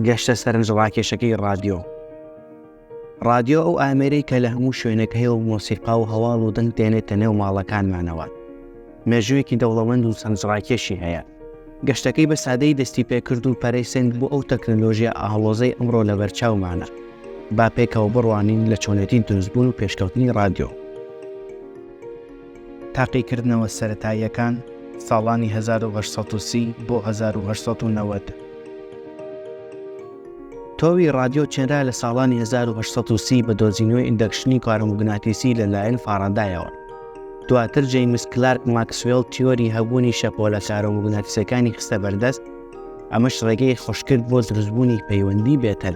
گەشتە سەرنجڕاکێشەکەی ڕادیۆ ڕادیۆ ئەو ئامێرەی کە لە هەموو شوێنێک هەیە و مۆسیقا و هەواڵ و دەنگ دێنێتە نێو ماڵەکانمانەوە مێژوویەکی دەوڵەمەند و سەنجڕاکێشی هەیە گەشتەکەی بە سادەی دەستی پێکرد و پەرەی سنگ بۆ ئەو تەکنەلۆژیە ئاهڵۆزەی ئەمڕۆ لە بەرچاومانە با پێکەوە بڕوانین لە چۆنێتی دروستبوون و پێشکەوتنی ڕادیۆ تاقیکردنەوە سەرەتاییەکان، ساڵانی هەزار و هەشت سەد و سی بۆ هەزار و هەشت سەد و نەوەد. تۆوی ڕادیۆ چنرا لە ساڵانی هەزار و هەشت سەد و سی بە دۆزینەوەی ئیندەکشنی کارۆموگناتیسی لە لایەن فارادایەوە. دواتر جەیمس کلارک ماکسوێڵ تیۆری هەبوونی شەپۆلە کارۆموگناتیسەکانی خستە بەردەست، ئەمەش ڕێگەی خۆشکرد بۆ دروستبوونی پەیوەندی بێتەل.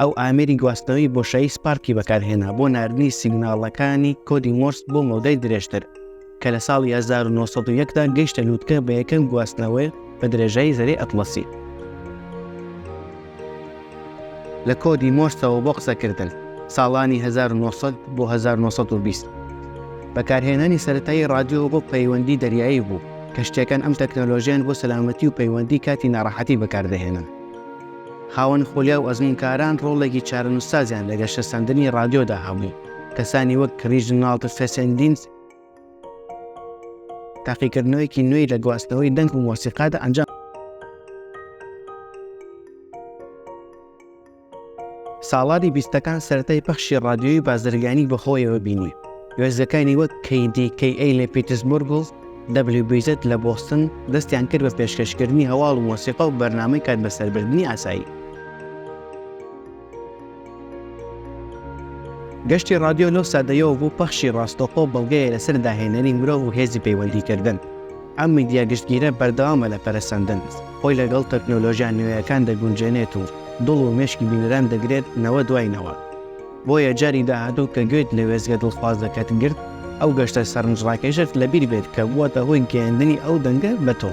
ئەو ئامێری گواستنەوەی بۆشایی سپارکی بەکارهێنا بۆ ناردنی سیگناڵەکانی کۆدی مۆرس بۆ مەودای درێژتر کە لە ساڵی 1970دا گەیشتە لووتکە بە یەکەم گواستنەوەی بە درێژایی زەری ئەتڵەسی لە کۆدی مۆرسەوە بۆ قسەکردن ساڵانی 1900 بۆ 1920 بەکارهێنانی سەتایی رادیۆ بۆ پەیوەندی دەریایی بوو کە شتەکان ئەم تەکنەلۆژیان بۆ سەلامەتی و پەیوەندی کاتی ناڕەحەتی بەکاردەهێنن خاوەن خولیا و ئەزموونکاران ڕۆڵێکی چارەنووسسازیان لە گەشەسەندنی ڕادیۆدا هەبوو، کەسانی وەک ریژناڵد فێسێندینس تاقیکردنەوەیەکی نوێی لە گواستنەوەی دەنگ و مۆسیقادا ئەنجام ساڵانی بیستەکان سەرەتای پەخشی ڕادیۆی بازرگانی بەخۆیەوە بینی وێزەکانی وەک کەیدی کەی ئەی لە پیتسبرگڵ WBZ لە بۆستن دەستیان کرد بە پێشکەشکردنی هەواڵ و مۆسیقا و بەرنامەی کات بەسەربردنی ئاسایی. گەشتی ڕادیۆ لەو سادەیەوە بۆ پەخشی ڕاستەوخۆ بەڵگەیە لەسەر داهێنەری مرۆڤ و هێزی پەیوەندیکردن. ئەم میدیا گشتگیرە بەردەوامە لە پەرەسەندن، خۆی لەگەڵ تەکنۆلۆژیا نوێیەکان دەگونجێنێت و دڵ و مێشکی بینەران دەگرێت نەوە دوای نەوە. بۆیە جاری داهاتوو کە گوێت لە وێستگە دڵخوازەکەت گرت، ئەو گەشتە سەرنجڕاکێشەت لەبیر بێت کە بووەتە هۆی گەیاندنی ئەو دەنگە بە تۆ.